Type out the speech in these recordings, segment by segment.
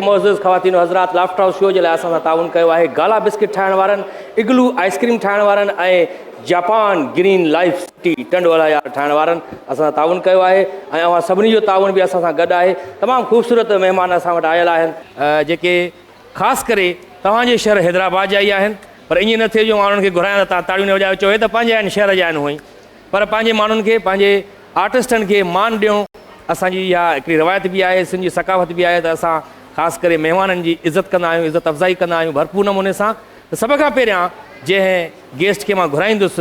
معزز خواتين و حضرات لافٽر هاؤس شو جي لاء اسان سان تعاون ڪيو آهي گالا بسڪٽ ٺاهڻ وارن اگلو آئسڪريم ٺاهڻ وارن ۽ جاپان گرين لائف ٽي ٽنڊ وارا يار ٺاهڻ وارن اسان سان تعاون ڪيو آهي ۽ اوهان سڀني جو تعاون به اسان سان گڏ آهي تمام خوبصورت مهمان اسان وٽ آيل آهن جيڪي خاص ڪري توهان جي شهر حيدرآباد جا ئي آهن پر ائين نه ٿئي جو اوهان انهن کي گهرايان ته توهان تاڙيون نه وڄايو چوهي ته پنهنجا آهن شهر جا آهن هونئن پر پنهنجي ماڻهن کي پنهنجي آرٽسٽن کي مان ڏيو اسان جي اها هڪڙي روايت به آهي سنڌ جي ثقافت به آهي ته اسان خاص ڪري مهمانن جي عزت ڪندا آهيون عزت افزائي ڪندا آهيون ڀرپور نموني سان ته سڀ کان پهريان جنهن گيسٽ کي مان گهرائيندس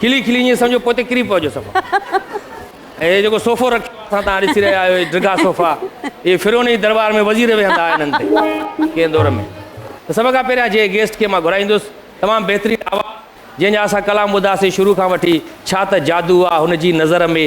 کلي کلي ائين سمجهو پوئتي ڪري پوجو صفا ۽ هي جيڪو صوفو رکيو اٿان تان ڏسي رهيا آهيو هي ڊگها صوفا اهي فرعون جي دربار ۾ وزير ويهندا هئا انهن تي ڪنهن دور ۾ ته سڀ کان پهريان جنهن گيسٽ کي مان گهرائيندس تمام بهترين آواز جنهن جا اسان ڪلام ٻڌاسي شروع کان وٺي ڇا ته جادو آ هن جي نظر ۾.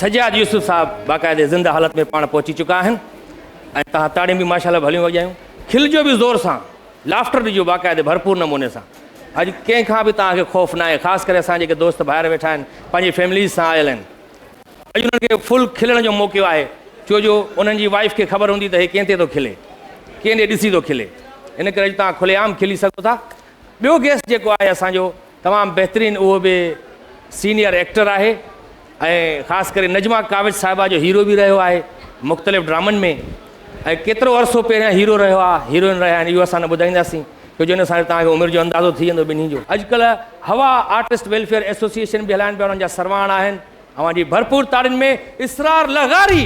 سجاد يوسف صاحب باقاعدي زنده حالت ۾ پاڻ پهچي چڪا آهن ۽ توهان تاڙيون به ماشاءالله ڀليون وڄايون کلجو به زور سان لافٽر ڏجو باقاعدي ڀرپور نموني سان اڄ ڪنهن کان به توهان کي خوف ناهي خاص ڪري اسان جيڪي دوست ڀائر ويٺا آهن پنهنجي فيمليز سان آيل آهن اڄ انهن کي فل کلڻ جو موقعو آهي ڇو جو انهن جي وائيف کي خبر هوندي ته هي ڪنهن تي ٿو کلي ڪنهن ڏي ڏسي ٿو کلي ان ڪري اڄ توهان کلي عام کلي سگهو ٿا ٻيو گيسٽ جيڪو آهي اسان جو تمام بهترين اهو به سينيئر ايڪٽر آهي ۽ خاص ڪري نجما ڪاوش صاحبه جو هيرو به رهيو آهي مختلف ڊرامن ۾ ۽ ڪيترو عرصو پهريان هيرو رهيو آهي هيروئن رهيا آهن اهو اسان نه ٻڌائينداسين ڇو جو ان سان توهان کي عمر جو اندازو ٿي ويندو ٻنهي جو. اڄڪلهه هوا آرٽسٽ ويلفيئر ايسوسيئيشن به هلائن پيا انهن جا سرواڻ آهن اوهان جي ڀرپور تاڙين ۾ اسرار لغاري.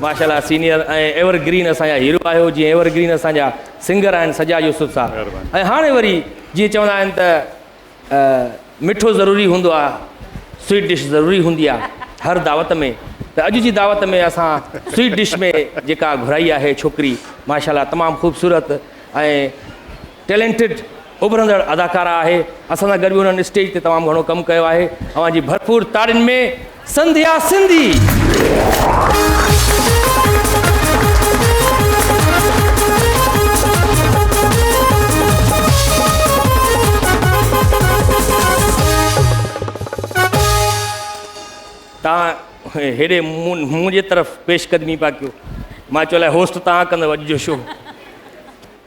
ماشاءالله سينيئر ۽ ايور گرين اسان جا هيرو آهيو جيئن ايور گرين اسان جا سنگر آهن سجاد يوسف صاحب ۽ هاڻي وري جيئن چوندا آهن ته. مٺو ضروري هوندو آ سويٽ ڊش ضروري هوندي آ هر دعوت ۾ ته اڄ جي دعوت ۾ اسان سويٽ ڊش ۾ جيڪا گهرائي آهي ڇوڪري ماشاءالله تمام خوبصورت ۽ ٽيلنٽڊ اڀرندڙ اداڪارا آهي اسان سان گڏ به هن اسٽيج تي تمام گهڻو ڪم ڪيو آهي اوهان جي ڀرپور تاڙين ۾ سنڌيا سنڌي. تان هيڏي منهنجي طرف پيش قدمي پيا ڪيو مان چيو الائي هوسٽ تان ڪندو اڄ جو شو.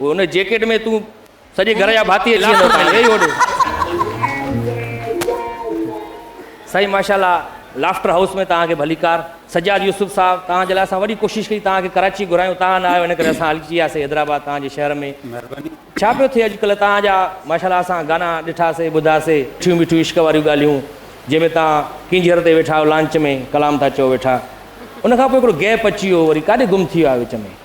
اوء ان جيڪيٽ ۾ تون سڄي گهر جا ڀاتي اچي ويندؤ تان ويهي هوڏي. سائين ماشا الله لافٽر هائوس ۾ توهان کي ڀليڪار. سجاد يوسف صاحب توهان جي لاء اسان وڏي ڪوشش ڪئي توهان کي ڪراچي گهرايون توهان نه آيو ان ڪري اسان الجي وياسي حيدرآباد توهان جي شهر ۾ مهرباني ڇا پيو ٿئي اڄ ڪلهه توهان جا ماشا الله اسان گانا ڏٺا سي ٻڌا سي مٺيون مٺيون عشق واريون ڳالهيون جنهن ۾ توهان ڪينجهر تي ويٺا آهيو لانچ ۾ ڪلام ٿا چئو ويٺا ان کان پوء هڪڙو گيپ اچي ويو وري ڪاڏي گم ٿي ويا وچ ۾.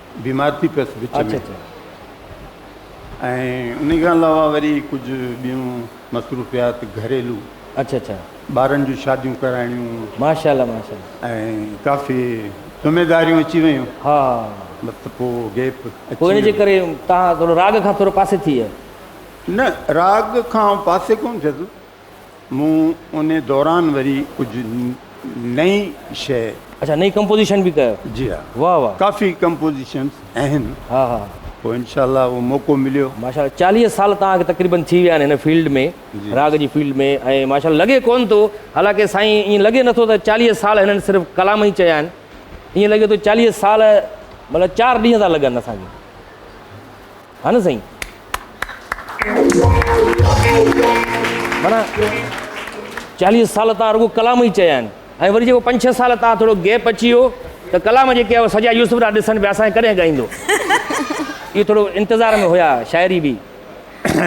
بيمار ٿي پيس وچ ۾ ۽ ان کان علاوه وري ڪجهه ٻيون مصروفيات گهريلو اچھا اچھا ٻارن جون شاديون ڪرائڻيون ماشاءالله ماشاءالله ۽ ڪافي ذميداريون اچي ويون ها بس پو گيپ پو ان جي ڪري تان ٿورو راڳ کان ٿورو پاسي ٿي نه راڳ کان پاسي ڪون ٿيس مون ان دوران وري ڪجهه نئي شيء. اڇا نئي ڪمپوزيشن به ڪيو. جي ها واھ واھ. ڪافي ڪمپوزيشنس اهن. ها ها. پوء انشاء الله اهو موقعو مليو. ماشاء الله چاليهه سال توهان کي تقريبن ٿي ويا آهن هن فيلڊ ۾ راڳ جي فيلڊ ۾ ۽ ماشاء الله لڳي ڪون ٿو حالانڪه سائين ائين لڳي نه ٿو ته چاليهه سال هنن صرف ڪلام ئي چيا آهن ائين لڳي ٿو چاليهه سال مطلب چار ڏينهن ٿا لڳن اسان کي. ها نه سائين مانا چاليهه سال تان رڳو ڪلام ئي چيا آهن ۽ وري جيڪو پنج ڇهه سال تان ٿورو گيپ اچي ويو ته ڪلام جيڪي هو سڄا يوسف ڏا ڏسن پيا اسان ڪڏهن ڳائيندو اهو ٿورو انتظار ۾ هيا شاعري به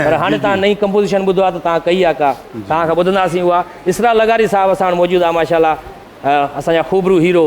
پر هاڻي تان نئين ڪمپوزيشن ٻڌو آهي ته تان ڪئي آهي ڪا تان کان ٻڌنداسين اها اسرا لغاري صاحب اسان وٽ موجود آهي ماشاءالله اسان جا خوبرو هيرو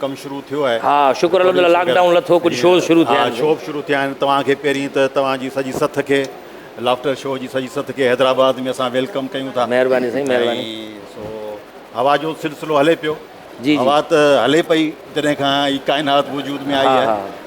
ڪم شروع ٿيو آهي. ها شڪر الحمد الله لاڪ ڊائون لٿو ڪجهه شوز شروع ٿيا آهن. ها شوب شروع ٿيا آهن توهان کي پهرين ته توهان جي سڄي سٿ کي لافٽر شو جي سڄي سٿ کي حيدرآباد ۾ اسان ويلڪم ڪيون ٿا. مهرباني سائين مهرباني. ۽ سو هوا جو سلسلو هلي پيو. جي جي. هوا ته هلي پئي جڏهن کان هي ڪائنات وجود ۾ آئي آهي.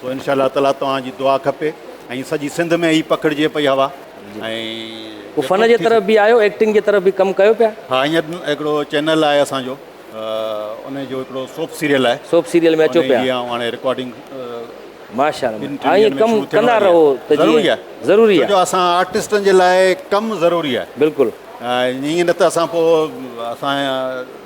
سو انشاء الله تعالي توهان جي دعا کپي ۽ سڄي سنڌ ۾ هي پکڙجي پئي هوا ۽ پوء فن جي طرف به آيو ايڪٽنگ جي طرف به ڪم ڪيو پيا. ها هينئر هڪڙو چينل آهي اسان جو انهي جو هڪڙو سوپ سيريل آهي سوپ سيريل ۾ اچو پيا. جيئن هاڻي رڪارڊنگ ماشاء الله ٻن ٽن ڏينهن ۾ شروع ٿيڻ واري آهي ضروري آهي ضروري آهي ڇو جو اسان آرٽسٽن جي لاء ڪم ضروري آهي بلڪل ائين نه ته اسان پوء اسان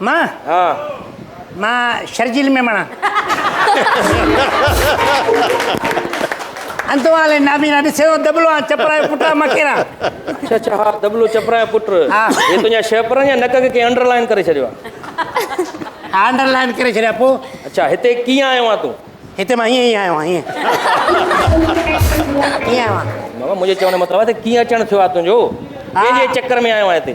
مان ها مان شرجيل ميمڻا انتو آلي نابينا ڏسي تو دبلو آ چپرا جو پٽا مکيرا اچھا اچھا ها دبلو چپرا جو پٽ ها هي تنهنجا شهپرن يا نڪ کي ڪنهن انڊر لائن ڪري ڇڏيو آ انڊر لائن ڪري ڇڏيا پو اچھا هتي ڪيئن آيو آ تون هتي مان هيئن ئي آيو آ هيئن هيئن آيو آ بابا منهنجي چوڻ جو مطلب آ ته ڪيئن اچڻ ٿيو آ تنهنجو ڪنهنجي چڪر ۾ آيو آ هتي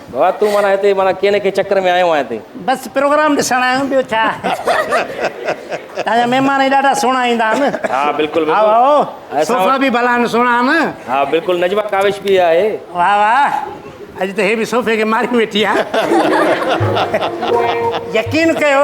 ڀاء تون معنيٰ هتي معنيٰ ڪنهن نه ڪنهن چڪر ۾ آيو آهين هتي. بس پروگرام ڏسڻ آيو آهيان ٻيو ڇا. تان جا مهمان هي ڏاڍا سهڻا ايندا آهن. ها بلڪل بلڪل. هائو هائو صوفا به ڀلا آهن سهڻا آهن. ها بلڪل نجمه ڪاوش به آهي. واهه واهه اڄ ته هي به صوفي کي ماري ويٺي آهي. يقين ڪيو.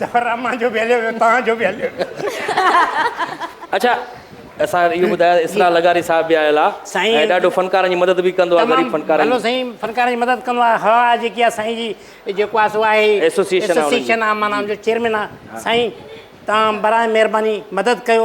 ظفر رحمان جو به هليو ويو توهان جو به هليو ويو. اچا اسان اهو ٻڌايو ته اسرار لغاري صاحب به آيل آ ۽ ڏاڍو فنڪارن جي مدد به ڪندو آ غريب فنڪارن جي. تمام ڀلو سائين فنڪارن جي مدد ڪندو آ هوا جيڪي آ سائين جي جيڪو آ سو آ هي ايسوسيئيشن آ معنيٰ ان جو چيئرمين آ سائين توهان برائي مهرباني مدد ڪيو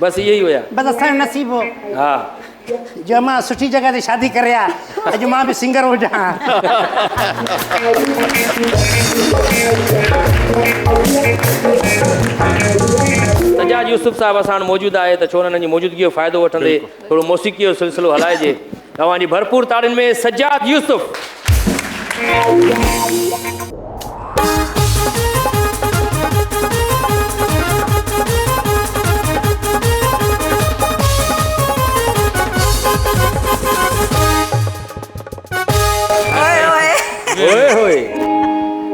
بس اهي ئي هيا. بس اسان جو نصيب هو. ها. جو امان سٺي جڳهه تي شادي ڪري ها. اڄ مان به سنگر هجان ها. سجاد يوسف صاحب اسان وٽ موجود آهي ته ڇو نه انهن جي موجودگي جو فائدو وٺندي ٿورو موسيقي جو سلسلو هلائجي. توهان جي ڀرپور تاڙين ۾ Sajjad Yousuf.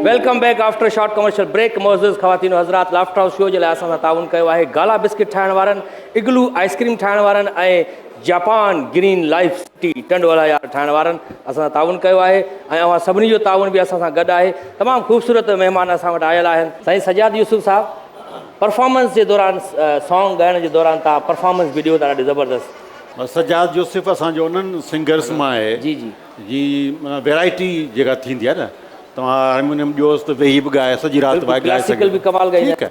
Welcome back after short commercial break معزز خواتين و حضرات لافٽر هائوس شو جي لاء اسان سان تعاون ڪيو آهي گالا بسڪٽ ٺاهڻ وارن اگلو آئس ڪريم ٺاهڻ وارن ۽ Japan green life city Tando Allahyar ٺاهڻ وارن اسان سان تعاون ڪيو آهي ۽ اوهان سڀني جو تعاون به اسان سان گڏ آهي تمام خوبصورت مهمان اسان وٽ آيل آهن. سائين سجاد يوسف صاحب پرفارمنس جي دوران سانگ ڳائڻ جي دوران تان پرفارمنس به ڏيو ٿا ڏاڍي زبردست. سجاد يوسف اسان جو انهن سنگرس مان آهي جي جي جي معنيٰ ويرائٽي جيڪا ٿيندي آهي نه توهان هارمونيم ڏيوس ته ويهي به ڳائي سڄي رات ڀائي ڳائي سگهي ٿو ٺيڪ آهي.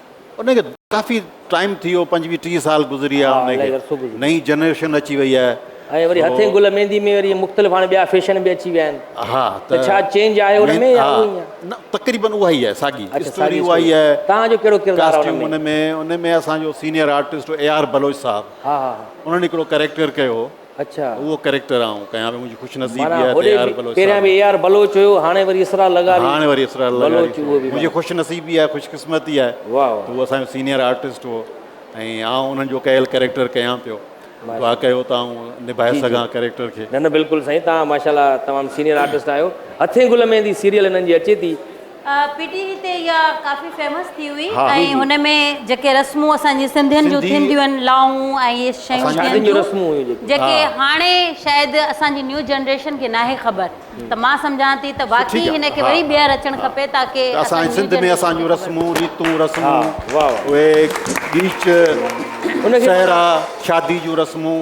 ان کي ڪافي ٽائيم ٿي ويو پنجويهه ٽيهه سال گذري ويا ان کي نئين جنريشن اچي وئي آهي ۽ وري هٿين گل ميندي ۾ وري مختلف هاڻي ٻيا فيشن به اچي ويا آهن ها ته ڇا چينج آهي ان ۾ يا اهو ئي آهي نه تقريبن اها ئي آهي ساڳي اسٽوري اها ئي آهي تان جو ڪهڙو ڪردار آهي ان ۾ ان ۾ اسان جو senior artist A R Baloch صاحب ها ها انهن هڪڙو ڪريڪٽر ڪيو هو اڇا. اهو ڪريڪٽر آئون ڪيان پيو منهنجي خوش نصيبي معنيٰ آهي ته هوڏي اي آر بلوچ پهريان به صاحب اي آر بلوچ هيو هاڻي وري اسرار لغاري هاڻي وري اسرار لغاري بلوچ اهو به منهنجي معنيٰ خوش نصيبي آهي خوش قسمتي آهي واهه ته واهه هو اسان جو سينيئر آرٽسٽ هو ۽ آئون انهن جو ڪيل ڪريڪٽر ڪيان پيو ماشاء دعا ڪيو ته آئون نڀائي جي جي سگهان ڪريڪٽر کي نه نه بلڪل سائين تهان ماشاء الله تمام سينيئر آرٽسٽ آهيو هٿين گل ميندي سيريل هنن جي اچي ٿي پي ٽي وي تي اها ڪافي فيمس ٿي هئي ۽ هن ۾ جيڪي رسمون اسان جي سنڌين جون ٿينديون آهن لاهون ۽ اهي شيون ٿين ٿيون جيڪي هاڻي شايد اسان جي نيو جنريشن کي ناهي خبر ته مان سمجهان ٿي ته واقعي هن کي وري ٻيهر اچڻ کپي تاڪي اسان جي سنڌ ۾ اسان جون رسمون ريتون رسمون اهي بيچ سهرا شادي جون رسمون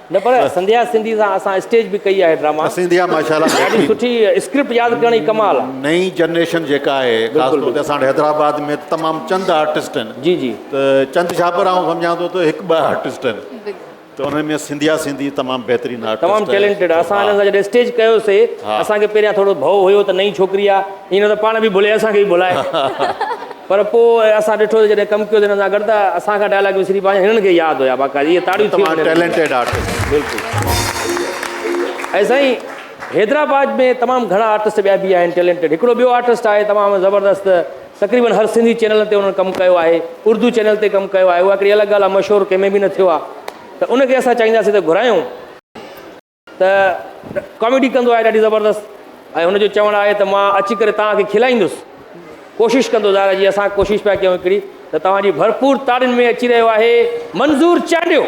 نه پر سنڌيا سنڌي سان اسان اسٽيج به ڪئي آهي ڊراما. نه سنڌيا ماشاءالله ڏاڍي سٺي اسڪرپٽ ياد ڪرڻ جي ڪمال آ. نئين جنريشن جيڪا آهي خاص طور تي اسان وٽ حيدرآباد ۾ تمام چند آرٽسٽ آهن جي جي ته چند ڇا پر آئون سمجهان ٿو ته هڪ ٻه آرٽسٽ آهن ته انهن ۾ سنڌيا سنڌي تمام بهترين آرٽسٽ تمام ٽيلنٽيڊ آ اسان هن سان جڏهن اسٽيج ڪيوسي اسان کي پهريان ٿورو ڀئو هيو ته نئين ڇوڪري آ. ائين نه ته پاڻ به ڀلي اسان کي به ڀلائي پر پوء اسان ڏٺو ته جڏهن ڪم ڪيو ته هنن سان گڏ ته اسان کان ڊائلاگ وسري پيا وڃن هنن کي ياد هيا باقاعدي اهي تاڙيون ٿي وڃن ٽيلنٽيڊ آرٽسٽ بلڪل ۽ سائين حيدرآباد ۾ تمام گهڻا آرٽسٽ ٻيا به آهن ٽيلنٽيڊ هڪڙو ٻيو آرٽسٽ آهي تمام زبردست تقريبن هر سنڌي چينل تي انهن ڪم ڪيو آهي اردو چينل تي ڪم ڪيو آهي اها هڪڙي الڳ ڳالهه آهي مشهور ڪنهن ۾ به نه ٿيو آهي ته ان کي اسان چاهينداسين ته گهرايون ته ڪاميڊي ڪندو آهي ڏاڍي زبردست ۽ هن جو چوڻ آهي ته مان اچي ڪري توهان کي کلائيندس ڪوشش ڪندو ظاهر جي اسان ڪوشش پيا ڪيون هڪڙي ته توهان جي ڀرپور تاڙين ۾ اچي رهيو آهي منظور چانڊيو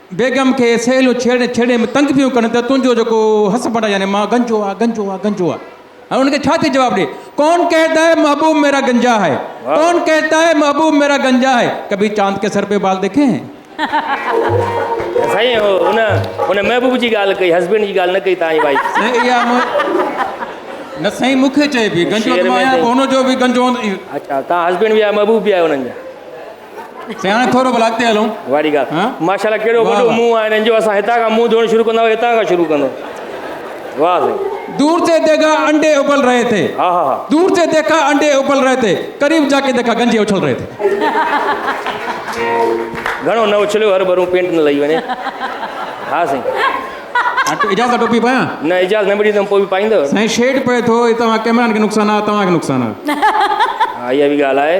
بيگم کي سهيليون ڇيڙي ڇيڙي ۾ تنگ پيون ڪن ته تنهنجو جيڪو هسبنڊ يعني مان گنجو آ گنجو آ گنجو آ هاڻي ان کي ڇا ٿي جواب ڏي ڪون ڪهتا هي محبوب ميرا گنجا هي ڪون ڪهتا هي محبوب ميرا گنجا هي ڪڀي چاند ڪي سر پي بال ديکي هين سائين هو ان ان محبوب جي ڳالهه ڪئي هسبنڊ جي ڳالهه نه ڪئي تانجي وائف سائين اها نه سائين مون کي چئبي گنجو ته مان آهيان ان جو به گنجو اچا تان هسبنڊ به آهي محبوب به آهي انهن جا سياڻ ٿورو ڀلا اڳتي هلون. واري ڳالهه ماشاءالله ڪهڙو وڏو منهن آهي هنن جو اسان هتان کان منهن ڌوئڻ شروع ڪنداهو هتان کان شروع ڪندو واه سائين. دور تي ديگا انڊي ابل رهي ٿي دور تي ديکا انڊي ابل رهي ٿي قريب جا ڪي ديکا گنجي اڇل رهي ٿي. گهڻو نه اڇليو هر ڀرون پينٽ نه لهي وڃي ها سائين. اجاز سان ٽوپي پايان. نه اجاز نه مڙي ته پوء به پائيندو. سائين شيڊ پئي ٿو هي توهان ڪيمرا کي نقصان آهي توهان کي نقصان آهي. ها اها به ڳالهه آهي.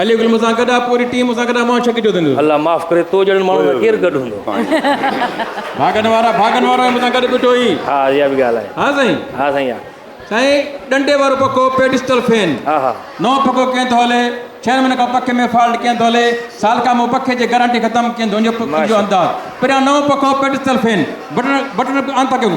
علي گل مونسان گڏ آ پوري ٽيم مونسان گڏ آ مان ڇڪ جو ڌنڌو. الله معاف ڪري تو جهڙن ماڻهن سان ڪير گڏ هوندو. ڀاڳن وارا ڀاڳن وارو آهي مونسان گڏ بيٺو هي. ها اها به ڳالهه آهي. ها سائين. ها سائين ها. سائين ڏنڊي وارو پکو پيڊسٽل فين نئون پکو ڪين ٿو هلي ڇهن مهينن کان پکي ۾ فالٽ ڪين ٿو هلي سال کان مون پکي جي گرانٽي ختم ڪين ٿو هجي پکي جو انداز پريان نئون پکو پيڊسٽل فين بٽڻ بٽڻ آن ٿا ڪيون.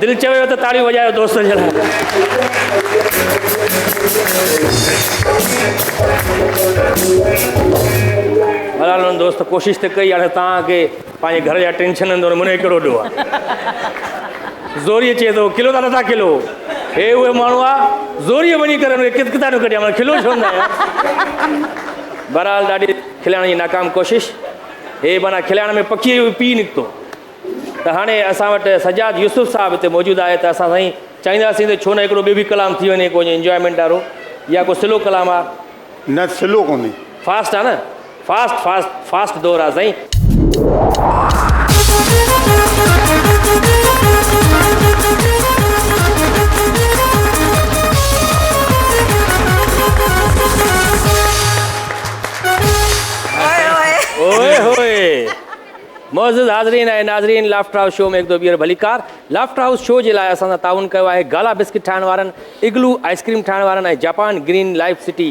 دل چويو ته تاڙيون وڄايو دوستن جي لاء بھرحال دوست ڪوشش ته ڪئي هاڻي تان کي پنهنجي گهر جا ٽينشن اندر منهن ڪهڙو ڏو آهي زوري چئي ٿو کلو ٿا نٿا کلو هي اهي ماڻهو آ زوري وڃي ڪري هن کي ڪت ڪتا نه ڪڍيا کلو ڇو نه بھرحال ڏاڍي کلائڻ جي ناڪام ڪوشش هي مانا کلائڻ ۾ پکي جو پي نڪتو ته هاڻي اسان وٽ سجاد يوسف صاحب هتي موجود آهي ته اسان سائين چاهينداسين ته ڇو نه هڪڙو ٻيو به ڪلام ٿي وڃي ڪو انجوائمينٽ وارو يا ڪو سلو ڪلام آ. نه سلو ڪونهي. فاسٽ آ نه فاسٽ فاسٽ فاسٽ دور آ سائين. اوهي هوئي. معزز حاضرين ۽ ناظرين لافٽر هائوس شو ۾ هڪ دو ٻيهر ڀليڪار لافٽر هائوس شو جي لاء اسان سان تعاون ڪيو آهي گالا بسڪٽ ٺاهڻ وارن اگلو آئسڪريم ٺاهڻ وارن ۽ Japan green life city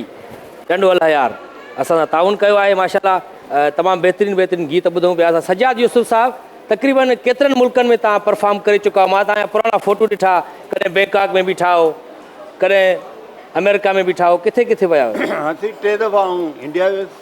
Tando Allahyar اسان سان تعاون ڪيو آهي ماشاءالله تمام بهترين بهترين گيت ٻڌون پيا اسان سجاد يوسف صاحب تقريبن ڪيترن ملڪن ۾ تان پرفارم ڪري چڪا مان تان پراڻا فوٽو ڏٺا ڪڏهن بينڪاڪ ۾ بيٺا هو ڪڏهن امريڪا ۾ بيٺا هو ڪٿي ڪٿي ويا هو هاڻ ٽي دفعا آئون انڊيا ويس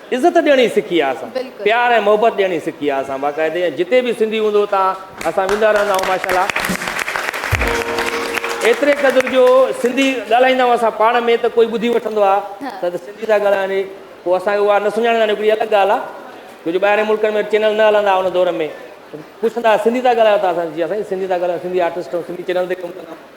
عزت ڏيڻي سکي آ اسان پيار ۽ محبت ڏيڻي سکي آ اسان باقاعدي ۽ جتي به سنڌي هوندو اتان اسان ويندا رهندا آهيون ماشاءالله ايتري قدر جو سنڌي ڳالهائيندا آهيون اسان پاڻ ۾ ته ڪوئي ٻڌي وٺندو آ ته سنڌي ٿا ڳالهائن هي پوء اسان کي اها نه سڃاڻيندا آهن هڪڙي الڳ ڳالهه آ ڇو جو ٻاهرين ملڪن ۾ چينل نه هلندا ان دور ۾ پڇندا سنڌي ٿا ڳالهايو ته اسان جي سائين سنڌي ٿا ڳالهايون سنڌي آرٽسٽ سنڌي چينل تي ڪم ڪندا آهيون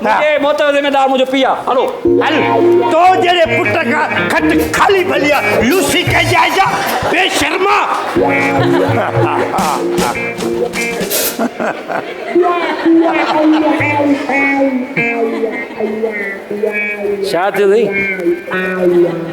منهنجي موت جو ذميدار منهنجو پيء آ. هلو. هل. تو جهڙي پٽ کان کٽ خالي ڀلي آ. لوسي ڪهي جائجا. بي شرما. شايد ٿيندي.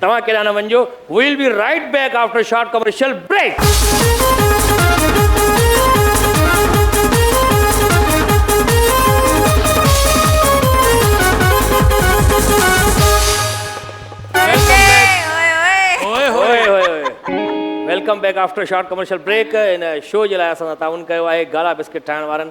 توهان ڪيڏانهن نه وڃجو we'll be right back after short commercial break. Welcome back after short commercial break ان شو جي لاء اسان سان تعاون ڪيو آهي گالا بسڪٽ ٺاهڻ وارن.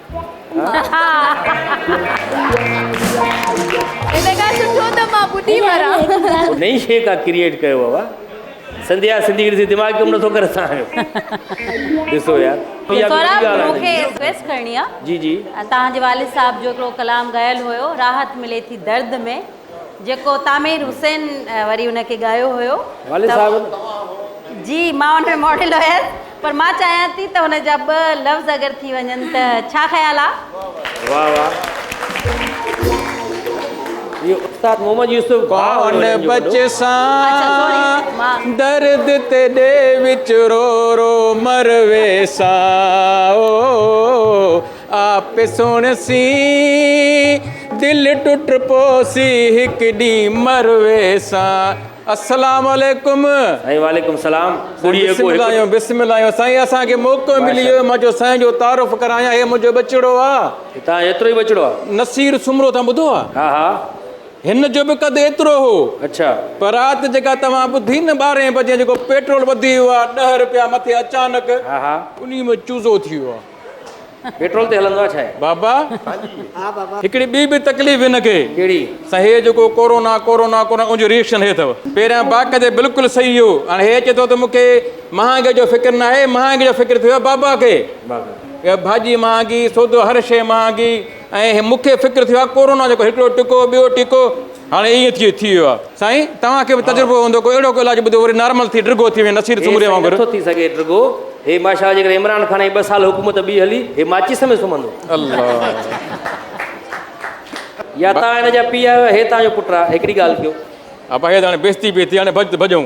ان کان سٺو ته مان ٻڏي مران. نئين شيء ڪا ڪريئيٽ ڪيو اوا سنڌيا سنڌي کي ڏسي دماغ ڪم نٿو ڪري اسان جو ڏسو يار سهراب مون کي رڪويسٽ ڪرڻي آ جي جي تهان جي والد صاحب جو هڪڙو ڪلام ڳايل هيو راحت ملي ٿي درد ۾. جيڪو تعمير حسين وري ان کي ڳايو هيو والد صاحب جي مان ان ۾ ماڊل هيس پر مان چاهيان ٿي ته هن جا ٻه لفظ اگر ٿي وڃن ته ڇا خيال آ واه واه اهو استاد محمد يوسف ڀاء ڪون بچ سان درد تي ڏي وچ رو رو مر ويسان او آپ سوڻ سي دل ٽٽ پوسي هڪ ڏينهن مروي سان السلام عليڪم سائين وعليڪم السلام ٻڙي بسم الله بسم الله سائين اسان کي موقعو ملي ويو مان جو سائين جو تعارف ڪرايان هي منهنجو ٻچڙو آ هتان ايترو ئي ٻچڙو آ نصير سومرو تان ٻڌو آ ها ها هن جو به قد ايترو هو اچھا پر رات جيڪا توهان ٻڌي نه 12 بجي جيڪو پيٽرول وڌي ويو آ 10 رپيا مٿي اچانڪ ها ها انهي ۾ چوزو ٿي ويو آ پيٽرول تي هلندو آهي ڇا هي؟ بابا هڪڙي ٻي به تڪليف هن کي ڪهڙي؟ سا هي جيڪو ڪورونا ڪورونا ڪورونا ان جو ريئڪشن هي اٿو پهريان باقي تي بلڪل صحيح هو هاڻي هي چي ٿو ته مون کي مهانگي جو فڪر ناهي مهانگي جو فڪر ٿيو آهي بابا کي بابا ڀاڄي مهانگي سودو هر شيء مهانگي ۽ مون کي فڪر ٿيو آهي ڪورونا جو ڪو هڪڙو ٽڪو ٻيو ٽڪو هاڻي ائين ٿي ٿي ويو آهي سائين توهان کي به تجربو هوندو ڪو اهڙو ڪو علاج ٻڌو وري نارمل ٿي ڊگهو ٿي وڃي نصير سومري وانگر هي سائين نٿو ٿي سگهي ڊگهو هي ماشاءالله جيڪڏهن عمران خان جي ٻه سال حڪومت ٻي هلي هي ماچيس ۾ سمهندو الله يا توهان هن جا پيء آهيو يا هي توهان جو پٽ آهي هڪڙي ڳالهه ڪيو. ابا هي ته هاڻي بيستي پئي ٿئي هاڻي ڀڄ ته ڀڄون.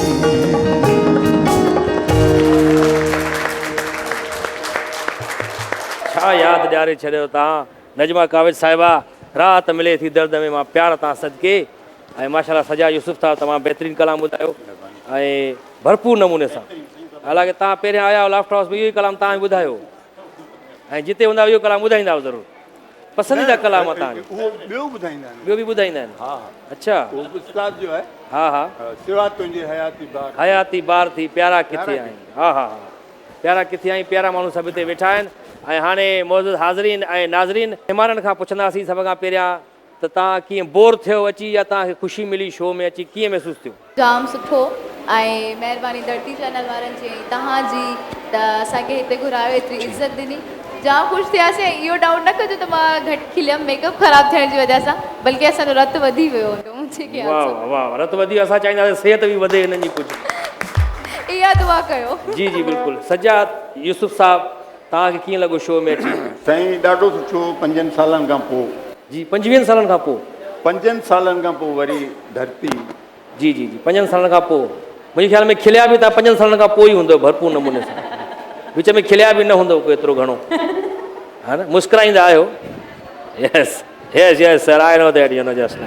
ڇا ياد ڏياري ڇڏيو تان نجمه ڪاوش صاحبه راحت ملي ٿي درد ۾ مان پيار تان صدقي ۽ ماشاءالله سجا يوسف صاحب تمام بهترين ڪلام ٻڌايو ۽ ڀرپور نموني سان حالانڪه تان پهريان آيا هئا لافٽر هائوس ۾ اهو ئي ڪلام تان ئي ٻڌايو ۽ جتي هوندا اهو ڪلام ٻڌائيندا ضرور پسنديده ڪلام اٿا آهن. اهو ٻيو ٻڌائيندا آهن. ٻيو به ٻڌائيندا آهن. ها ها. اڇا. اهو به استاد جو آهي. ها ها. سوا تنهنجي حياتي بار. حياتي بار ٿي پيارا ڪٿي آهين. ها ها ها. پيارا ڪٿي آهين پيارا ماڻهو سڀ هتي ويٺا آهن ۽ هاڻي معزز حاضرين ۽ ناظرين مهمانن کان پڇنداسين سڀ کان پهريان ته تان ڪيئن بور ٿيو اچي يا تان کي خوشي ملي شو ۾ اچي ڪيئن محسوس ٿيو. جام سٺو ۽ مهرباني ڌرتي چينل وارن جي ۽ توهان جي ته اسان کي هتي گهرايو ايتري عزت ڏني جام خوش ٿياسين ۽ اهو ڊائوٽ نه ڪجو ته مان گهٽ کليم ميڪ اپ خراب ٿيڻ جي وجه سان بلڪه اسان جو رت وڌي ويو هوندو منهنجي خيال سان واه واه واه رت وڌي ويو اسان چاهينداسين صحت به وڌي هنن جي ڪجهه اها دعا ڪيو. جي جي بلڪل سجاد يوسف صاحب توهان کي ڪيئن لڳو شو ۾ اچي. سائين ڏاڍو سٺو پنجن سالن کان پو. جي پنجويهن سالن کان پو. پنجن سالن کان پو وري. ڌرتي. جي جي جي پنجن سالن کان پوء منهنجي خيال ۾ کليا به توهان پنجن سالن کان پوء ئي هوندؤ ڀرپور نموني سان وچ ۾ کليا به نه هوندؤ ڪو ايترو گهڻو ها نه مسڪرائيندا آهيو yes yes yes sir I know that you know just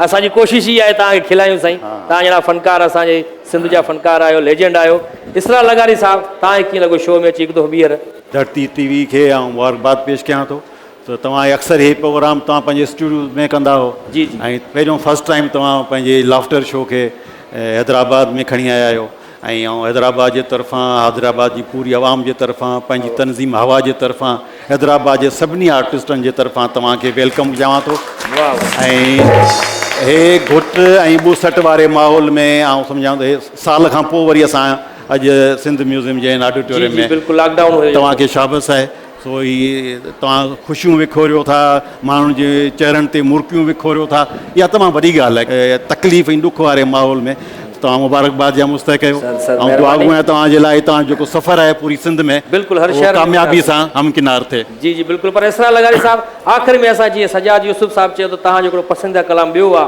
اسان جي ڪوشش ئي آهي توهان کي کلايون سائين توهان جهڙا فنڪار اسان جي سنڌ جا فنڪار آهيو ليجنڊ آهيو اسرار لغاري صاحب توهان کي ڪيئن لڳو شو ۾ اچي هڪ دفعو ٻيهر ڌرتي ٽي وي کي آئون مبارڪباد پيش ڪيان ٿو ته توهان هي اڪثر هي پروگرام توهان پنهنجي اسٽوڊيو ۾ ڪندا آهيو ۽ پهريون فرسٽ ٽائيم توهان پنهنجي لافٽر شو کي حيدرآباد ۾ کڻي آيا آهيو ۽ آئون حيدرآباد جي طرفان حيدرآباد جي پوري عوام جي طرفان پنهنجي تنظيم هوا جي طرفان حيدرآباد جي سڀني آرٽسٽن جي طرفان توهان کي ويلڪم چوان ٿو ۽ هي گهٽ ۽ ٻوسٽ واري ماحول ۾ آئون سمجهان ٿو هي سال کان پوء وري اسان اڄ سنڌ ميوزيم جي هن آڊيٽوريم ۾ توهان کي شابس آهي سو هي توهان خوشيون وکوريو ٿا، ماڻهن جي چهرن تي مرڪيون وکوريو ٿا، اها تمام وڏي ڳالهه آهي. تڪليف ۽ ڏک واري ماحول ۾ توهان مبارڪباد جا مستحق آهيو. آئون دعا گو آهيان توهان جي لاء ۽ توهان جو جيڪو سفر آهي پوري سنڌ ۾ اهو ڪاميابي سان همڪنار ٿئي. جي جي بلڪل پر اسرار لغاري صاحب آخر ۾ اسان جيئن سجاد يوسف صاحب چيو ته تهان جو هڪڙو پسنديده ڪلام ٻيو آ.